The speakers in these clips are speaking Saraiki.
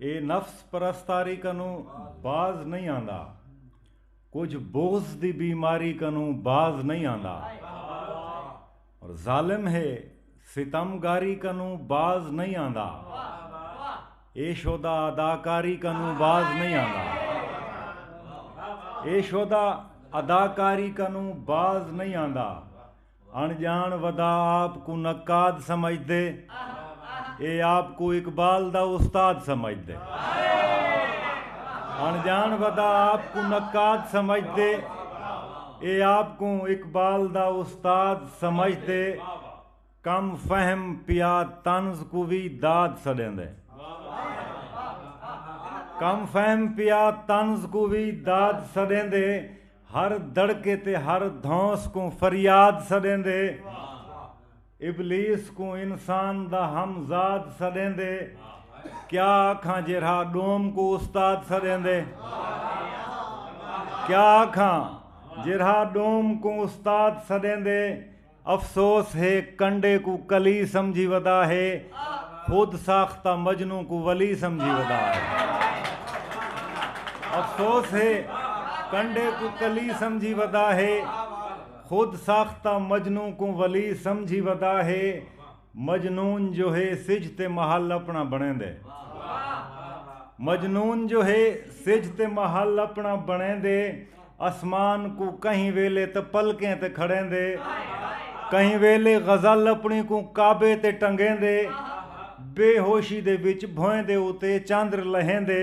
اے نفس پرستاری کنوں باز نئیں آندا کجھ بغض دی بیماری کنوں باز نئیں آندا اور ظالم ہے ستم گاری کنوں باز نئیں آندا اے شودا اداکاری کنوں باز نئیں آندا اے شودا اداکاری کنوں باز نئیں آندا اݨ ڄاݨ ودا آپ کوں نقاد سمجھدے اے آپ کوں اقبال دا استاد سمجھدے اݨ ڄاݨ ودا آپ کوں نقاد سمجھدے اے آپ کوں اقبال دا استاد سمجھدے کم فہم پیا طنز کوں وی داد سݙیندے کم فہم پیا طنز کوں وی داد سݙیندے ہر دڑکے تے ہر دھونس کوں فریاد سݙیندے ابلیس کوں انسان دا ہم زاد سݙیندے کیا آکھاں جیرھا ݙوم کوں استاد سݙیندے کیا آکھاں جیرھا ݙوم کوں استاد سݙیندے افسوس ہے کنڈے کوں کلی سمجھی ودا ہے خود ساختہ مجنوں کوں ولی سمجھی ودا ہے افسوس ہے کنڈے کوں کلی سمجھی ودا ہے خود ساختہ مجنوں کوں ولی سمجھی ودا ہے مجنون جو ہے سجھ تے محل اپنا بݨیندے مجنون جو ہے سجھ تے محل اپنا بݨیندے اسمان کوں کہیں ویلے تے پلکیں تے کھڑیندے کہیں ویلے غزل اپنی کوں کعبے تے ٹنگیندے بے ہوشی دے وچ بھوئیں دے اتے چندر لہیندے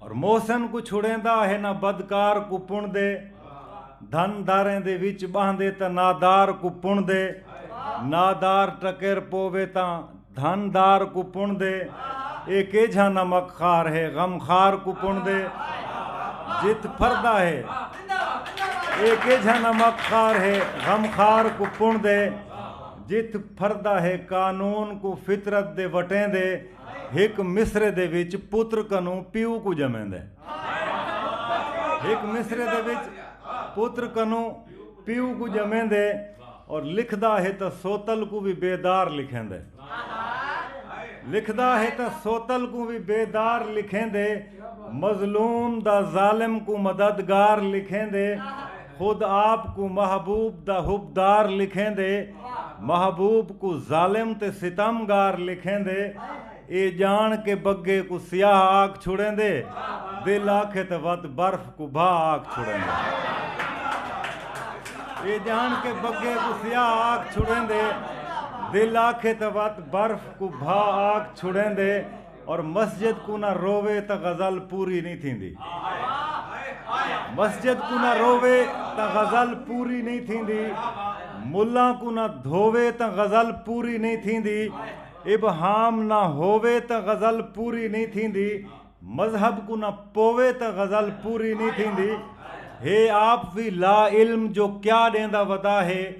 اور محسن کو چھڑیندا ہے نہ بدکار کو پن دے دھن داریں دے وچ باندے تا نادار کو پن دے نادار ٹکر پوے تا دھن دار کو پن دے اے کیجھا نمک خار ہے غم خار کو پن دے جت پھردا ہے اے کیجھا نمک خار ہے غم خار کو پن دے جت پھردا ہے قانون کو فطرت دے وٹیں دے ہک مصرعے دے وچ پتر کنوں پیو کوں ڄمیندے۔ ہک مصرعے دے وچ پتر کنوں پیو کوں ڄمیندے اور لکھدا ہے تاں سوتل کوں وی بے دار لکھیندے۔ لکھدا ہے تاں سوتل کوں وی بے دار لکھیندے مظلوم دا ظالم کوں مددگار لکھیندے۔ خود آپ کوں محبوب دا حب دار لکھیندے محبوب کوں ظالم تے ستم گار لکھیندے اے جان کے بگے کوں سیاہ آکھ چھڑیندے دل آکھے تاں وت برف کوں بھا آکھ چھڑیندے اے جان کے بگے کوں سیاہ آکھ چھڑیندے دل آکھے تاں وت برف کوں بھا آکھ چھڑیندے اور مسجد کوں نہ رووے تاں غزل پوری نئیں تھیندی مسجد کوں نہ رووے تاں غزل پوری نئیں تھیندی ملاں کوں نہ دھووے تاں غزل پوری نئیں تھیندی ابہام نہ ہووے تاں غزل پوری نئیں تھیندی مذہب کوں نہ پووے تاں غزل پوری نئیں تھیندی ہے آپ وی لا علم جو کیا ݙیندا ودا ہے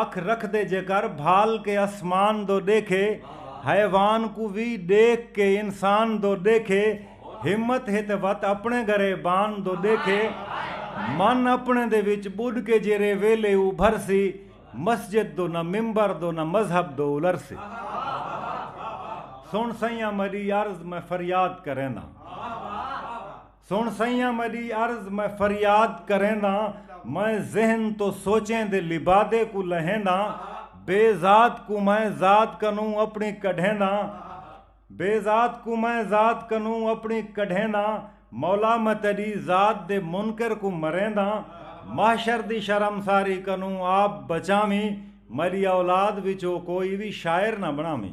اکھ رکھدے جیکر بھال کے اسمان دو ڈیکھے حیوان کوں وی ڈیکھ کے انسان دو ڈیکھے ہمت ہے تے وت اپنے گرے بان دو ڈیکھے من اپنے دے وچ بڈھ کے جیرے ویلے ابھر سی مسجد دو نہ ممبر دو نہ مذہب دو الر سی سن سئیاں مڈی عرض میں فریاد کرینداں۔ سݨ سئیاں مݙی عرض میں فریاد کرینداں میں ذہن توں سوچیں دے لبادے کوں لہینداں بے ذات کوں میں ذات کنوں اپݨی کڈھینداں بے ذات کوں میں ذات کنوں اپݨی کڈھینداں مولا میں تیݙی ذات دے منکر کوں مرینداں محشر دی شرمساری کنوں آپ بچاویں میݙی اولاد وچوں کوئی وی شاعر نہ بݨاویں۔